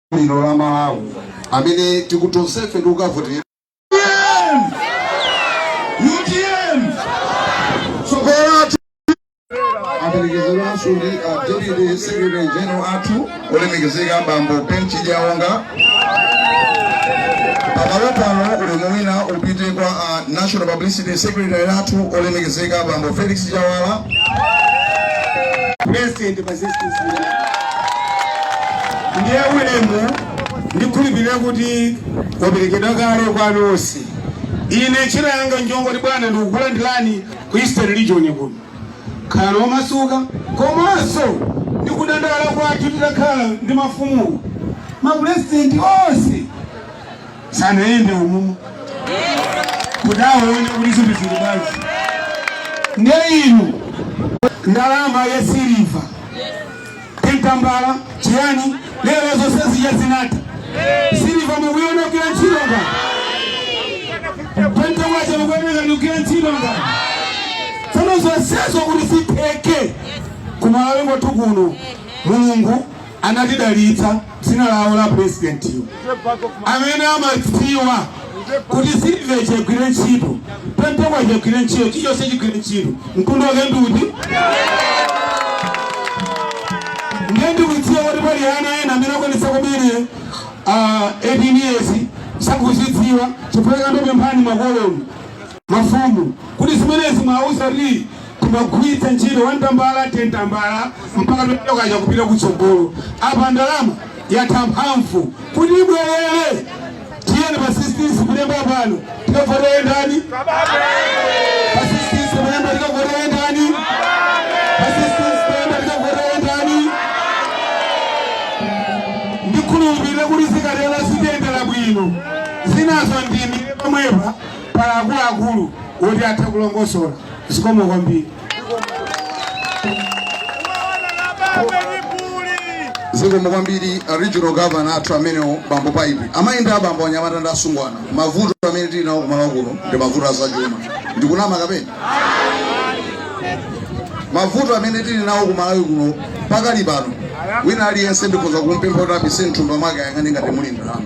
lino la Malawi amene tikuti tonsefe tikukavotera UTM aperekezedwanso ndi a deputy secretary general athu olemekezeka bambo Ben Chidyaonga pamalo pano ulemu wina upite kwa a national publicity secretary athu olemekezeka bambo Felix Njawala president ndiye ulemu ndikhulupirira kuti waperekedwa kale kwa nonse ine ntchito yanga njongoti bwana ndikukulandirani ku eastern region kuno khalani omasuka komanso ndikudandaula kwathu titakhala ndi mafumu mapurezidenti onse sanayende umumu kuti aone kuti zinthu zili bwanji nde inu ndalama ya siliva tentambala chiyani lero zonse zija zinatha siliva mukuiona kugwira ntchito nga pepala wake mukuoneka ndikugwira ntchito nga tsono zonsezo kuti sitheke kumalawi kwathu kuno mulungu anatidalitsa dzina lawo la pulezidentiyo amene amadziwa kuti siliva chigwire ntchito pepala chigwire ntchito chilichonse chigwire ntchito mtundu wake ndiuti ndiye ndikudziwa kuti pali ana ena amene akwanitsa kumene ah, 18 years sakuzidziwa chifukwa chake ndikupemphani makolo mafumu kuti zimenezi muwauze kuti timagwiritsa ntchito wantambala tentambala mpaka tokaja kupita kutsogolo apa ndalama yatha mphamvu kuti ibwerere tiyeni pa 16 septemba pano tikavotere ndani pa 16 septemba tikavotere ndani pa 16 septemba tikavotere ndani ndikhulupirire kuti zikatero zitiyendera bwino zinazo ndiima pomwepa pali akuluakulu woti atha kulongosola zikomo kwambiri zikomo kwambiri a regional governor athu amenewo bambo paipi amayi ndi abambo anyamata ndi asungwana mavuto amene tili nawo ku Malawi kuno ndi mavuto azachuma ndikunama kapena mavuto amene tili nawo ku malawi kuno pakali pano wina aliyense ndikhoza kumpempha kuti apise mthumba mwake ayang'ane ngati muli ndalama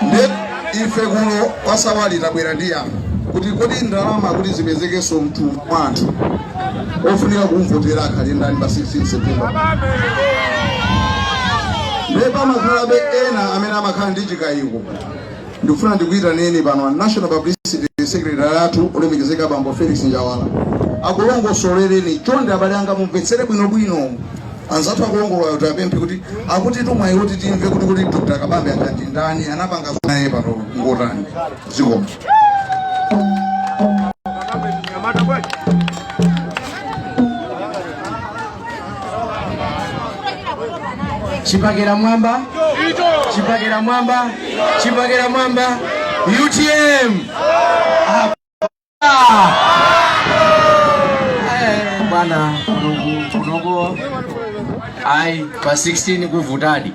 nde ife kuno kwa Sawali tabwera ndi yankho kuti kodi ndalama kuti zipezekenso mthumba mwa anthu ofunika kumvotera akhale ndani pa 16 september nde pamakhalabe ena amene amakhala ndi chikayiko Ndikufuna ndikuyitaneni pano a National Publicity Secretary athu olemekezeka bambo Felix Njawala akulongosolereni chonde abale anga mumvetsere bwinobwino anzathu akulongolola aja atiapemphe kuti akuti tumwayi kuti timve kuti kuti Dr. Kabambe aja ndi ndani anapanga naye pano ngotani zikomo chipakira mwamba chipakira mwamba chipakira mwamba utm Ah! Eh, bwana kunoku kunoku ayi pa 16 kuvutadi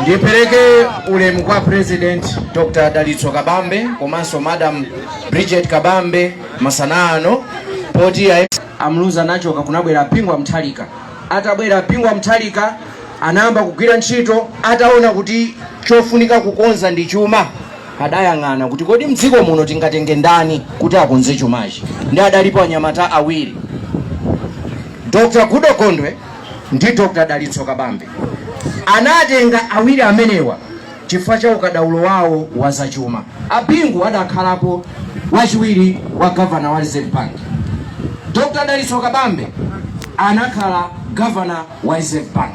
ndipereke ulemu kwa president dr dalitso kabambe komanso madam bridget kabambe masana ano poti A Muluzi anachoka kunabwera a Bingu wa Mutharika. Atabwera a Bingu wa Mutharika anayamba kugwira ntchito ataona kuti chofunika kukonza ndi chuma. Adayang'ana kuti kodi mdziko muno tingatenge ndani kuti akonze chumachi. Ndi adalipo anyamata awiri, Dr. Goodall Gondwe ndi Dr. Dalitso Kabambe. Anatenga awiri amenewa chifukwa cha ukadaulo wawo wa zachuma. A Bingu adakhalapo wachiwiri wa Governor wa Reserve Bank. Dr Dalitso Kabambe anakhala Governor wa Reserve Bank.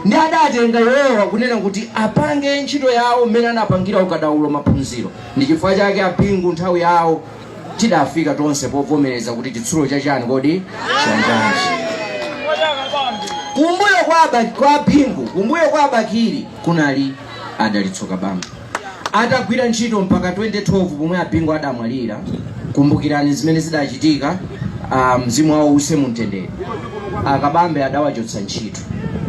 Ndi adatenga iwowa kunena kuti apange ntchito yawo mmene anapangira ukadaulo maphunziro. Ndi chifukwa chake a Bingu nthawi yawo tidafika tonse povomereza kuti chitsulo chachani kodi chanjanji kumbuyo kwa Aba- kwa a bingu kumbuyo kwa a bakili kunali a dalitso kabambe atagwira ntchito mpaka 2012 pomwe a bingu adamwalira kumbukirani zimene zidachitika ah, mzimu wawo uwuse mumtendere a kabambe adawachotsa ntchito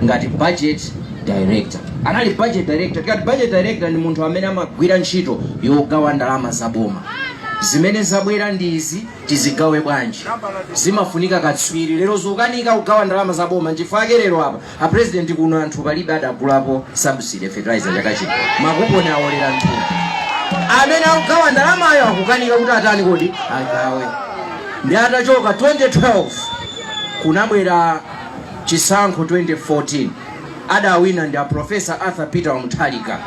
ngati budget director anali budget director tikati budget director ndi munthu amene amagwira ntchito yogawa ndalama za boma zimene zabwera ndi izi tizigawe bwanji zimafunika katswiri lero zikukanika kugawa ndalama za boma nchifukwa ake lero apa a president kuno anthu palibe adagulapo subsidy fertilizer chaka chino makuponi awolera mthumba amene akugawa ndalamayo akukanika kuti atani kodi agawe ndi atachoka 2012 kunabwera chisankho 2014 adawina ndi a Professor Arthur Peter Wa Mutharika.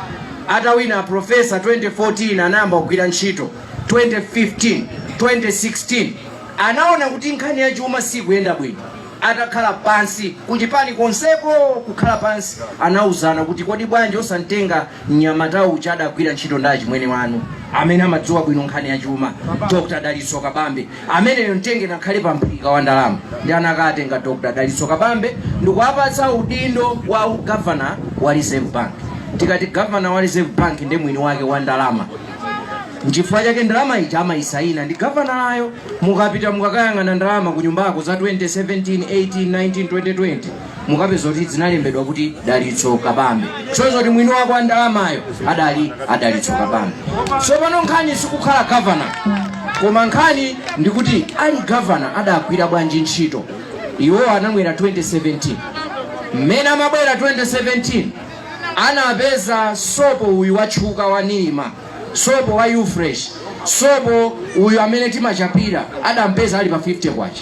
Atawina a Professor 2014 anayamba kugwira ntchito 2015, 2016 anaona kuti nkhani ya chuma sikuyenda bwino. Atakhala pansi kuchipani konseko kukhala pansi anauzana kuti kodi bwanji osamtenga Mnyamata uja adagwira ntchito ndi achimwene wanu amene amadziwa bwino nkhani ya chuma, Dr. Dalitso Kabambe. Ameneyo mtenge n'akhale pa mphika wa ndalama nde anakatenga Dr. Dalitso Kabambe ndikuwapatsa udindo wa governor wa Reserve Bank. Tikati governor wa Reserve Bank nde mwini wake wa ndalama nchifukwa chake ndalama ija amayisaina ndi gavanalayo. Mukapita mukakayang'ana ndalama ku nyumbako za 2017, 18, 19, 2020 mukapeza kuti zinalembedwa kuti dalitso kabambe zosonyeza kuti mwini wake wa ndalamayo adali adalitso kabambe so pano nkhani sikukhala gavana koma nkhani ndikuti ali gavana adagwira bwanji ntchito iwowa anabwera 2017 mmene amabwera 2017 anapeza sopo uyu wotchuka wa nirma sopo wa ufresh sopo uyu amene timachapira adampeza ali pa 50 kwacha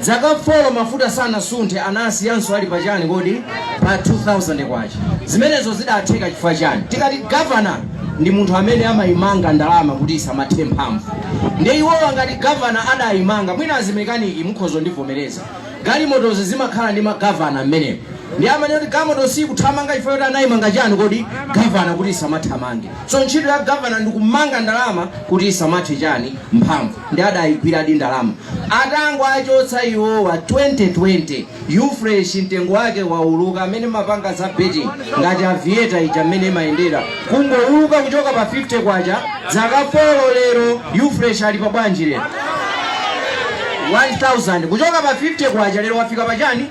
Zaka folo mafuta sanasunthe anasiyanso ali pa chani kodi? Pa 2000 kwacha. Zimenezo zidatheka chifukwa chani? Tikati governor ndi munthu amene amayimanga ndalama kuti isamathe mphamvu. Nde iwowa ngati governor adayimanga mwina azimekaniki mukhozondivomereza. Galimotozi zimakhala ndi magavana mmenemo. Ndi amati galimoto sikuthamanga chifukwa kuti anayimanga chani kodi? Governor kuti isamathamange. So ntchito ya governor ndi kumanga ndalama kuti isamathe chani mphamvu. nde adaigwiradi ndalama atangochotsa iwowa 2020 ufresh mtengo wake wauluka amene mumapanga za betting ngati avieta ija mmene imayendera kungouluka kuchoka pa 50 kwacha zaka folo lero ufresh ali pa bwanji lero 1000 kuchoka pa 50 kwacha lero wafika pa chani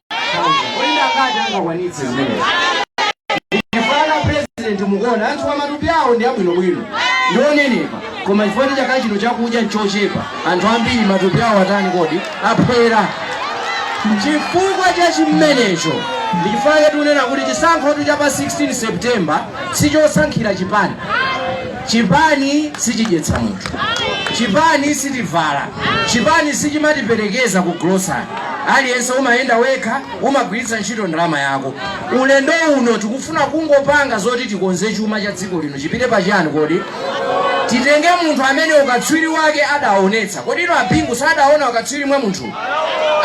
mukuona anthu a matupi awo ndi abwinobwino ndi onenepa koma chifukwa cha chaka chino chakudya nchochepa anthu ambiri matupi awo atani kodi aphwera chifukwa cha chimenecho ndi chifukwa chake tikunena kuti chisankho cha pa 16 september sichosankhira chipani Chipani sichidyetsa munthu, chipani sitivala, chipani sichimatiperekeza ku grocery. Aliyense umayenda wekha, umagwiritsa ntchito ndalama yako. Ulendo uno tikufuna kungopanga zoti tikonze chuma cha dziko lino. Chipite pa chani kodi? Titenge munthu amene ukatswiri wake adaonetsa. Kodi inu a Bingu sadaona ukatswiri mwa munthu?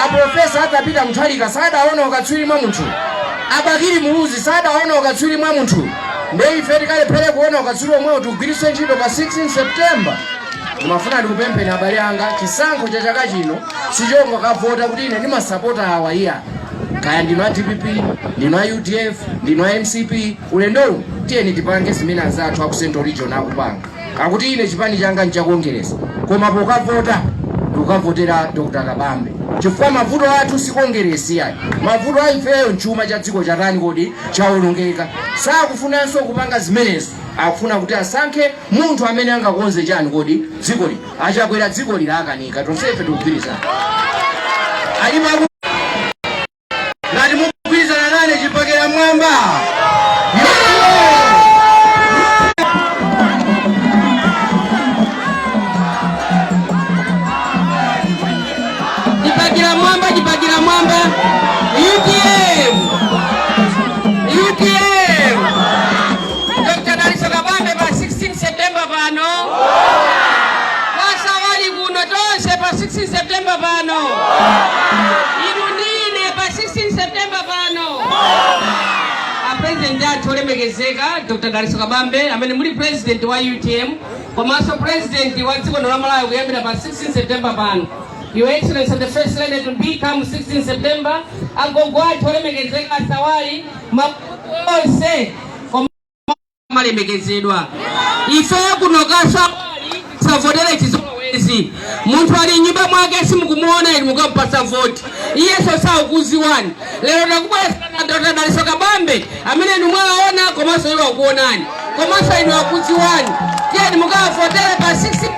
a profesa arthur peter mutharika sadaona ukatswiri mwa munthu a bakili muluzi sadaona ukatswiri mwa munthu nde ife tikalephere kuona ukatswiri omwewo tigwiritse ntchito pa 16 september ndimafuna ndikupempheni abale anga chisankho cha chaka chino sichongokavota kuti ine ndimasapota awa iyayi kaya ndinu a dpp ndinu a udf ndinu a mcp ulendowu tiyeni tipange zimene anzathu a ku central region akupanga Akuti ine chipani changa ncha Kongeresi koma pokavota ndikavotera Dr Kabambe chifukwa mavuto athu si Kongeresi iyayi. Mavuto a ifeyo nchuma cha dziko chatani kodi? Chaonongeka. Sakufunanso kupanga zimenezo akufuna kuti asankhe munthu amene angakonze chani kodi dziko lino. A Chakwera dzikoli lakanika tonsefe tikugwirizana. Alipo aku. ngati mukugwirizana nane chibakera mmwamba chibakera mmwamba chibakera mmwamba utm utm dr dalitso kabambe pa 16 september pano 16 September pano inu ndine pa 16 September pano a president athu olemekezeka Dr. Dalitso Kabambe amene muli president wa UTM komanso president wa dziko la Malawi kuyambira pa 16 September pano Your Excellency the First Lady to be come 16 September agogo athu olemekezeka a Sawali mafumu onse amalemekezedwa ife kuno kwa sawali tisavotere chizolowezi munthu ali mnyumba mwake simukumuona inu mukampasa voti iyenso sakukudziwani lero takubweretserani dr dalitso kabambe amene inu mwaona komanso iwo akuonani komanso inu akudziwani tiyeni mukavotere pa 16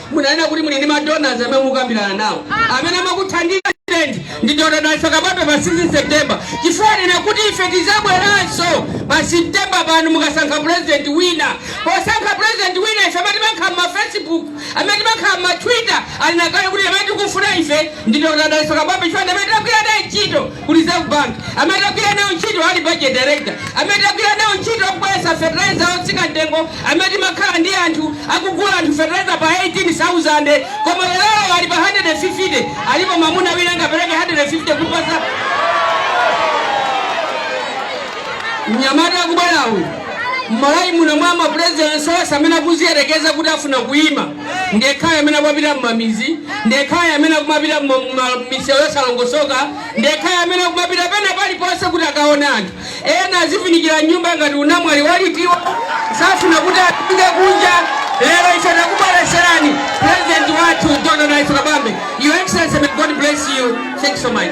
munanena kuti muli ndi madonors amene mukukambirana nawo amene amakuthandiza ndi dr dalitso kabambe pa 16 september chifukwa anena kuti ife tizabweranso pa september pano mukasankha president wina posankha president wina ife amene timakhala mma facebook amene timakhala mma twitter anena kale kuti amene tikufuna ife ndi dr dalitso kabambe chifukwa ndi amene tagwira naye ntchito ku Reserve Bank, amene tagwira nawo ntchito ali Budget Director, amene tagwira nawo ntchito kubweretsa fertilizer otsika mtengo, amene timakhala ndi anthu akugula anthu fertilizer pa 18,000 koma lero ali pa 150, alipo mmunda muno angapereke 150 kupasa mnyamata akubwera uyu mmalawi muno mwa ma presidents onse amene akuziyerekeza kuti afuna kuyima ndekhayo amene akumapita mmamidzi ndekhayo amene akumapita mu- mu- ma- misewu yosalongosoka ndekhayo amene akumapita pena paliponse kuti akaone anthu ena adzivindikira mnyumba ngati anamwali alitiwa safuna kuti apite kunja lero ife takubweretserani president wathu dr dalitso kabambe your excellency may god bless you thank you so much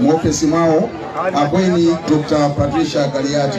mu ofesi mwawo akweni Dr. Patricia Kaliati.